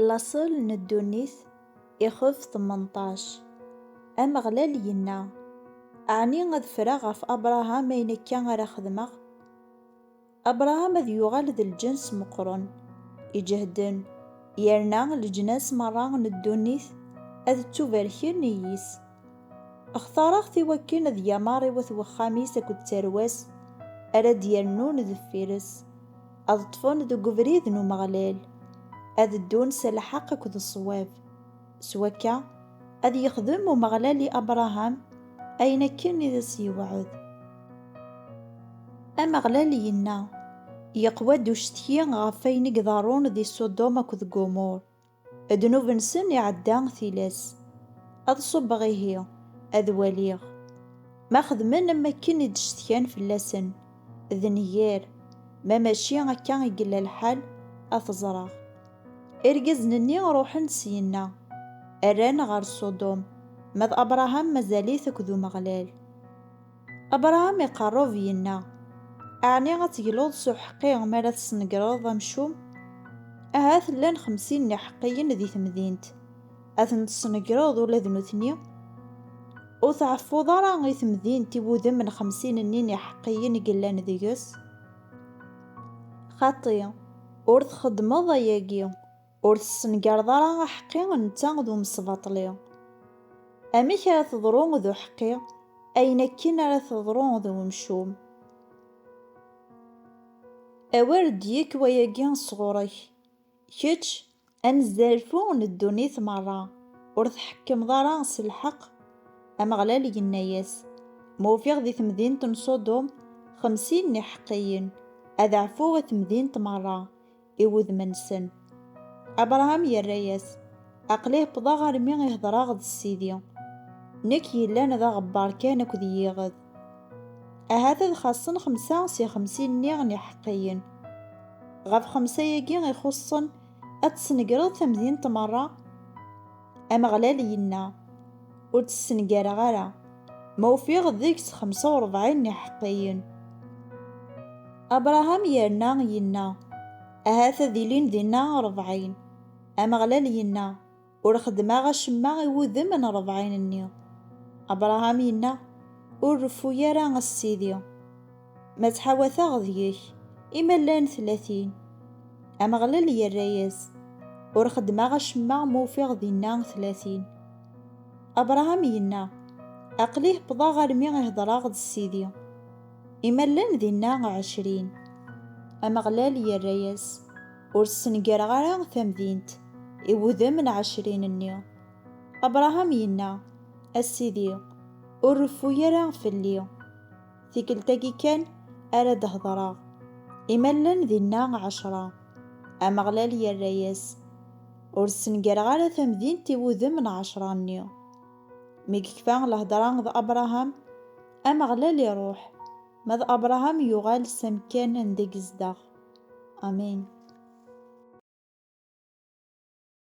Laṣel n ddunit, ixef tmenṭac. Ameɣlal yenna, Ɛni ad ffreɣ ɣef Abṛaham ayen akka ara xedmeɣ? Abṛaham ad yuɣal d lǧens meqqren, iǧehden, yerna leǧnas meṛṛa n ddunit ad ttubarken i yis. Xtaṛeɣ-t i wakken ad yameṛ i wat wexxam-is akked tarwa-s ara d-yernun deffir-s. Ad ṭṭfen deg ubrid n Umeɣlal, ad ddun s lḥeqq akked ṣṣwab. S wakka, ad yexdem Umeɣlal i Abṛaham ayen akken i as-yewɛed. Ameɣlal inna, Yeqwa-d ucetki ɣef wayen i iḍerrun di Ṣudum akked Gumur. Ddnub-nsen iɛedda tilas. Ad ṣubbeɣ ihi, ad waliɣ. Ma xedmen am wakken i d-cetkan fell-asen, d nnger, ma mačči akka i yella lḥal, ad t-ẓreɣ. Irgazen-nni ruḥen-d syenna, rran ɣer Ṣudum, ma d Abṛaham mazal-it akked Umeɣlal. Abṛaham iqeṛṛeb, yenna, Ɛni ad tegluḍ s uḥeqqi mi ara tesnegreḍ amcum? Ahat llan xemsin n iḥeqqiyen di temdint, ad ten-tesnegreḍ ula d nutni? Ur tɛeffuḍ ara i temdint i wudem n xemsin-nni n iḥeqqiyen i yellan deg-s? Xaṭi, ur txeddmeḍ ayagi. Ur tessengareḍ ara aḥeqqi netta d umesbaṭli. Amek ara teḍru d uḥeqqi ayen akken ara teḍru d umcum? Awer d-yekk wayagi sɣur-k, kečč anezzarfu n ddunit merra, ur tḥekkmeḍ ara s lḥeqq? Ameɣlal yenna-yas, Ma ufiɣ di temdint n Ṣudum xemsin n iḥeqqiyen, ad ɛfuɣ i temdint merra, i wudem-nsen. Abṛaham yerra-yas, Aql-i wwḍeɣ armi i hedṛeɣ d Sidi, nekk yellan d aɣebbaṛ kan akked yiɣed. Ahat ad xaṣṣen xemsa si xemsin-nni n iḥeqqiyen. Ɣef xemsa-yagi ixuṣṣen ad tesnegreḍ tamdint meṛṛa? Ameɣlal yenna, Ur tt-ssengareɣ ara, ma ufiɣ deg-s xemsa u rebɛin n iḥeqqiyen. Abṛaham yerna yenna, Ahat ad ilin dinna rebɛin. Ameɣlal yenna, Ur xeddmeɣ acemma i wudem n rebɛin-nni. Abṛaham yenna, Ur reffu ara, a Sidi! Ma ttḥawateɣ deg-k, i ma llan tlatin. Ameɣlal yerra-yas, Ur xeddmeɣ acemma ma ufiɣ dinna tlatin. Abṛaham yenna, Aql-i hebbḍeɣ armi i hedṛeɣ d Sidi. I ma llan dinna ɛecrin. Ameɣlal yerra-yas, Ur ssengareɣ ara tamdint i wudem n ɛecrin-nni. Abṛaham yenna, A Sidi, ur reffu ara fell-i. Tikkelt-agi kan ara d-hedreɣ. I ma llan dinna ɛecra? Ameɣlal yerra-yas, Ur ssengareɣ ara tamdint i wudem n ɛecra-nni. Mi yekfa lhedra d Abṛaham, Ameɣlal iṛuḥ, ma d Abṛaham yuɣal s amekkan anda i yezdeɣ. Amen.